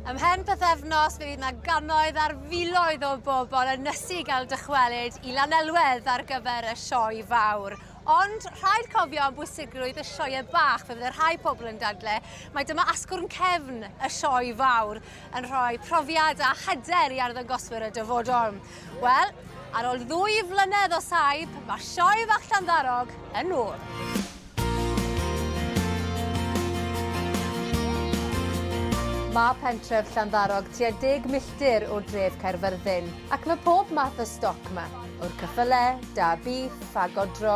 Ymhen pythefnos fe fydd yna gannoedd ar filoedd o bobl yn nysu i gael dychwelyd i Lanelwedd ar gyfer y sioe fawr. Ond rhaid cofio am bwysigrwydd y sioe bach, fe fydd y rhai pobl yn dadle, mae dyma asgwrn cefn y sioe fawr yn rhoi profiad a hyder i arddangoswyr y dyfodol. Wel, ar ôl ddwy flynedd o saib, mae sioe fach Llanddarog yn ôl. Mae pentref Llanddarog tua deg milltir o dref Caerfyrddin, ac mae pob math o stoc ma, o'r cyffyle, da bîff, a godro,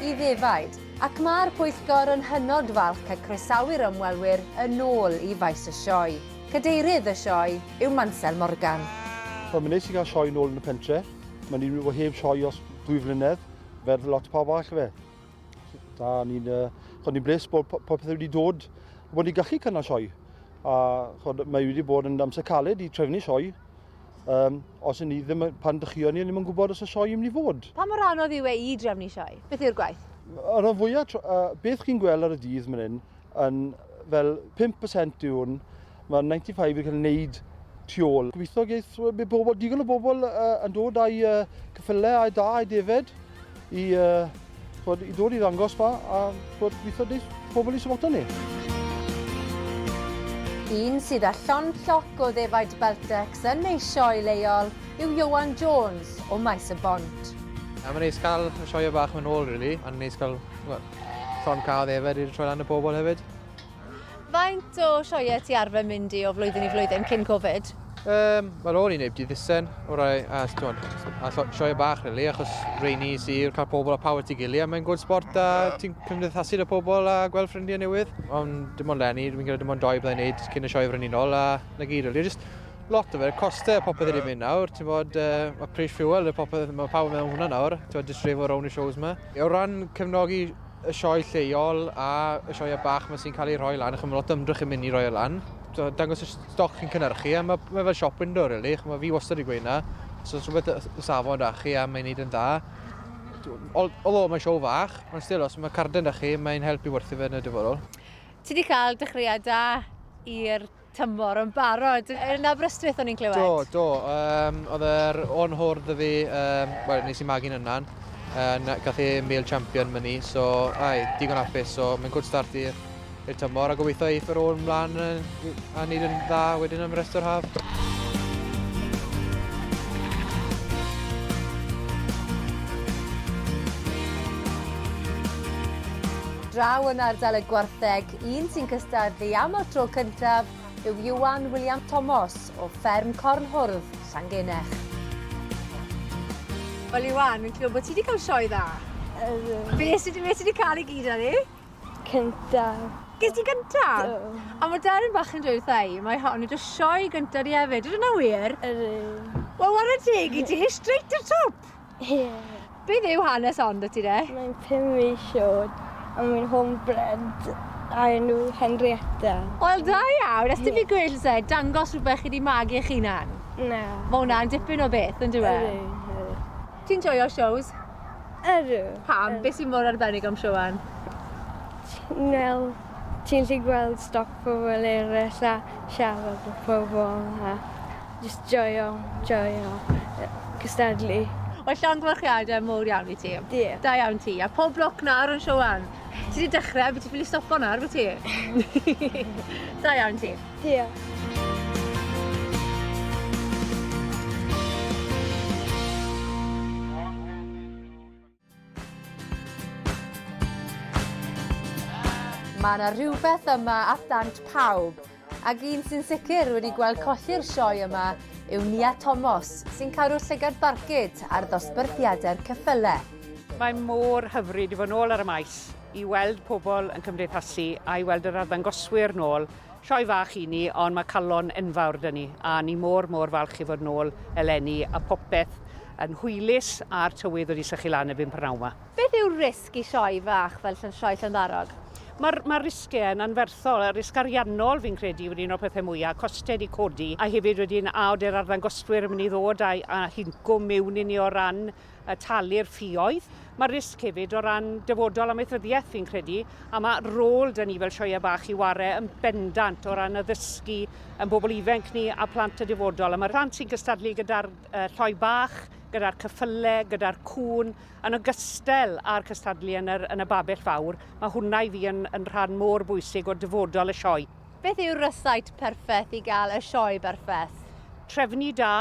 i ddefaid, ac mae'r pwyllgor yn hynod falch cael croesawu'r ymwelwyr yn ôl i faes y sioe. Cadeirydd y sioe yw Mansel Morgan. Wel, mae'n neis i gael sioe nôl yn y pentre. Mae'n un o heb sioe os dwy flynedd, fel lot o pawb arall, ife? Da, ni'n uh, ni bles bod popeth wedi dod, bod ni'n gallu cynnal sioe. A chod, mae wedi bod yn amser caled i trefnu sioe. Um, os yn ni ddim, pan dychio ni, ddim yn gwybod os y sioe yn mynd i fod. Pa mor anodd yw e i drefnu sioe? Beth yw'r gwaith? Ar y fwyaf, uh, beth chi'n gweld ar y dydd mynd hyn, yn fel 5% yw hwn. Mae 95 wedi cael ei wneud tu ôl. Gobeithio geith mae bobl, digon o bobl uh, yn dod â'i uh, cyffylau a'i da a'i defed i, uh, bod, i ddod i ddangos fa a bod, gobeithio deith pobl i syfoto ni. Un sydd â llon lloc o ddefaid Beltex yn ei sioe leol yw Iowan Jones o Maes y Bont. Mae'n neis cael y sioe bach yn ôl, really, a neis cael Llond car dde fe, dwi wedi troi lan y bobl hefyd. Faint o sioiau ti arfer mynd i o flwyddyn i flwyddyn cyn Covid? Um, Wel, o'n i neb di ddissen, o rai, a, twan, a sioia bach, really, achos reini sy'n cael pobl a pawb at ei gili, a mae'n gwrdd sport a ti'n cymdeithasu dy pobl a gweld ffrindiau newydd. Ond dim ond lenni, dwi'n credu dim ond doi byddai'n neud cyn y sioe frenhinol, a na gyd, really, just lot o fe, costau a popeth wedi mynd nawr, ti'n bod, uh, a pris fuel a popeth, mae pawb yn meddwl hwnna nawr, ti'n bod, just rhif o rown y shows yma. O ran cefnogi y sioe lleol a y sioeau bach mae sy'n cael ei rhoi lan, achos mae lot o ymdrech yn mynd i roi o lan. Dangos y stoc chi'n cynnyrchu, a mae, mae fel shop window, really. Chos mae fi wastad wedi gweud na. Os oes rhywbeth y safon da chi a mae'n neud yn dda, although mae'n sioe fach, ond still, os mae carden da chi, mae'n helpu werthu fe yn y dyfodol. Ti wedi cael dechreuad da i'r tymor yn barod. Yn Aberystwyth o'n i'n clywed? Do, do. Um, oedd yr o'n hwrdd y fi, um, well, nes i magu'n yna'n, yn gath e male champion myni, so ai, digon apus, so mae'n good start i'r i'r tymor a gobeithio eith yr ôl ymlaen a wneud yn dda wedyn am rest o'r haf. draw yn ardal y gwartheg Un sy'n cystadlu am y tro cyntaf yw Ieuan William Tomos o fferm Cornhwrdd, Llangenech. Wel Ieuan, fi'n clywed bod ti wedi cael sioe dda. Ydw. Be sydd wedi cael ei gyd ar ei? Cyntaf. Ges ti gyntaf? Do. A mae Darren bach yn dweud wrtha i, mae hon wedi sioe gyntaf i hefyd, ydyn nhw wir? Ydyn. Wel, wara teg i ti, straight to top! Beth yw hanes ond y ti de? Mae'n pum mis oed a mae'n home bred a enw Henrietta. Wel da iawn, os ti'n fi gwyllt se, dangos rhywbeth chi di magu eich hunan. Na. Mae hwnna'n dipyn o beth yn dweud. Ydw, Ti'n joio shows? Ydw. Pam? Beth sy'n mor arbennig am Siwan? Wel, ti'n lli gweld stoc pobl eraill a siarad o pobl a Jyst joio, joio cystadlu. Wel llongyfarchiade mowr iawn i ti. Diolch. Da iawn ti, a pob lwc nawr yn Siouan. Ti 'di dechre, by' ti ffili stopo nawr by' ti? Da iawn ti. Diolch. Mae yna rhywbeth yma at ddant pawb, ac un sy'n sicr wedi gweld colli'r sioe yma yw Nia Tomos, sy'n cadw llygad barcud ar ddosbarthiadau'r ceffylau. Mae mor hyfryd i fod nôl ar y maes, i weld pobl yn cymdeithasu a i weld yr arddangoswyr nôl Sioe fach i ni, ond mae calon enfawr 'da ni, a ni mor, mor falch i fod nôl eleni, a popeth yn hwylus, a'r tywydd wedi sychu lan erbyn prynhawn 'ma. Beth yw'r risg i sioe fach fel Sioe Llantharog? Mae'r mae'r risgiau yn anferthol, y risg ariannol fi'n credu wedi un o'r pethau mwya', costau 'di codi, a hefyd wedyn a ody'r arddangoswyr yn mynd i ddod a a hincwm miwn i ni o ran a talu'r ffioedd. Mae'r risg hefyd o ran dyfodol amaethyddiaeth fi'n credu, a mae rôl dyn ni fel sioeau bach i ware yn bendant o ran addysgu yn bobl ifenc ni a plant y dyfodol. A mae'r plant sy'n gystadlu gyda'r uh, lloi bach, gyda'r cyffyle, gyda'r cŵn, yn ogystal â'r cystadlu yn, yr, yn y babell fawr, mae hwnna i fi yn, yn rhan mor bwysig o dyfodol y sioe. Beth yw'r rysait perffaith i gael y sioe berffaith? Trefnu da,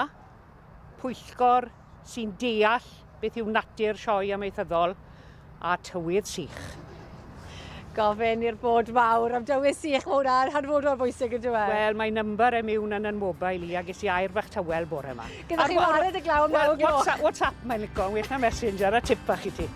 pwyllgor sy'n deall beth yw natur sioe amaethyddol a tywydd sych. Gofyn i'r bod mawr am dywydd sych, mae hwnna'n hanfodol bwysig yn dweud. Wel, mae number e miwn yn yn mobail i, a ges i air fach tywel bore yma. Gyda chi wared y glaw am naw gloch. WhatsApp, WhatsApp mae'n lico, yn well na Messenger, a tip bach i ti.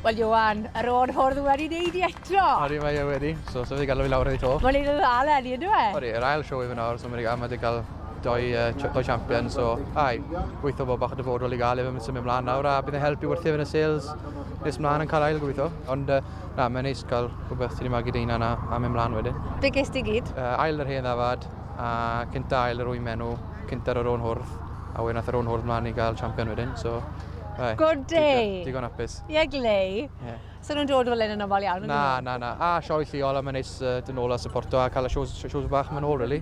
Wel Ioan, yr o'r hwrdd wedi neud i eto! Odi mae e wedi, so so wedi galw fi lawr i to. Mae'n neud yn dda leni yndyw e? Odi, yr ail sioe fe nawr so mae wedi a- mae wedi cael doi yy ch- doi champion so ai, gweitho bod bach o dyfodol i gael e mae'n symud mlaen nawr a bydd yn helpu wrth yn y sales nes mlaen yn cael ail gweitho ond yy na mae'n neis cael rhywbeth sy'n wedi magu dy hunan a, a mynd mlaen wedyn. Be ges di gyd? Uh, ail yr hen ddafad a cynta ail yr wy'n menw, cynta yr o'n hwrdd a wedyn nath yr o'n hwrdd mlaen i gael champion wedyn so Right. Good day. Digon hapus. Ie, yeah, glei. Yeah. So nhw'n dod fel un yn ofal iawn? Na, na, na. A sioe lliol a mae'n neis uh, dyn ôl a supporto a cael y shows, shows bach mae'n ôl, really.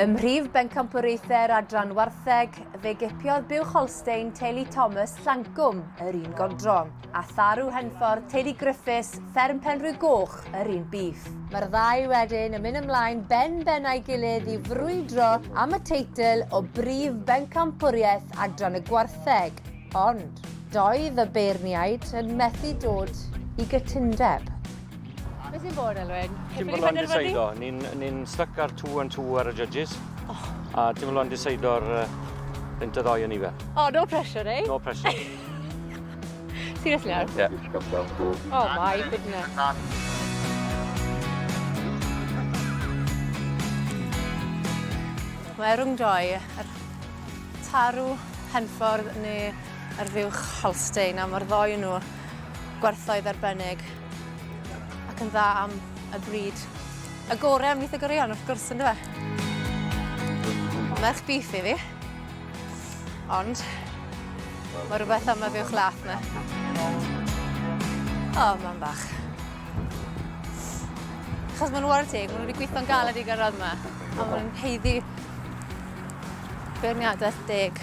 Ym mhrif bencampwriaethau'r adran wartheg, fe gipiodd Bill Holstein teulu Thomas Llancwm yr un godro. a Tharu Henffordd, teulu Griffiths, fferm Penrhwy Goch, yr un bif. Mae'r ddau wedyn yn mynd ymlaen ben ben a'i gilydd i frwydro am y teitl o brif bencampwriaeth adran y gwartheg, ond doedd y beirniaid yn methu dod i gytundeb. Be sy'n bod, Elwyn? Timberland Diseido. Ni'n ni styc ar two and two ar y judges. Oh. A Timberland Diseido'r uh, Inter ddoe yn ife. Oh, no pressure, eh? No pressure. Seriously nawr? Yeah. Oh my goodness. Mae rhwngdroi yr tarw Henffordd neu yr fuwch Holstein, a mae'r ddoi nhw gwerthoedd arbennig ac yn dda am y bryd. Y gorau am lith y goreuon, wrth gwrs, yn dweud. Merch bif i fi. Ond, mae rhywbeth am y fuwch lath na. O, mae'n bach. Chos mae'n wario teg, maen nhw wedi gweithio'n galed i gyrraedd yma. A maen nhw'n heiddi beirniadaeth deg.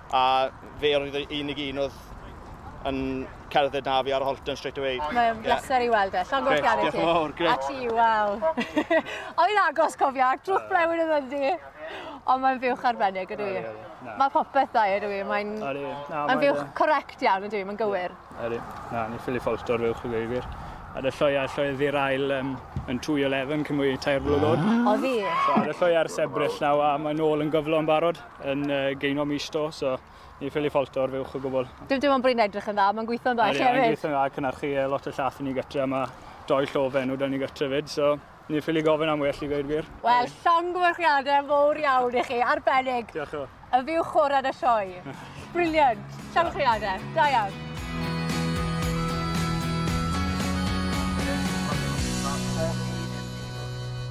A fe oedd y unig un oedd yn cerdded na fi ar Holton straight away. Mae'n yeah. bleser i weld e. Llon gorff gan i ti. Diolch yn fawr, gret. A ti, waw. Oedd agos, cofia, drwch blewyn yn yndi. Ond mae'n fiwch arbennig ydw i. Mae popeth dda ydw i. Mae'n ma fiwch correct iawn ydw i, mae'n gywir. Ydy, na, ni ffili ffolto'r fiwch i gywir. A dy lloi a lloi ddi'r ail um, yn 2.11 cymwy tair blwyddod. O ddi? So, a dy lloi ar sebrill naw a mae'n ôl yn gyflo yn barod. yn uh, geino mis do, so ni ffili ffolt o'r fuwch o gwbl. Dim dim ond bod hi'n edrych yn dda, mae'n gweithio'n dda hefyd. Mae'n gweithio'n dda, cynarchu e, lot o llath i ni gytre, mae doi llof enw da ni gytre fyd, so ni ffili gofyn am well i gweud gwir. Wel, llongyfarchiadau mowr iawn i chi, arbennig. Diolch o. Y fyw chorad y sioe. Briliant. Llongyfarchiadau. Da iawn.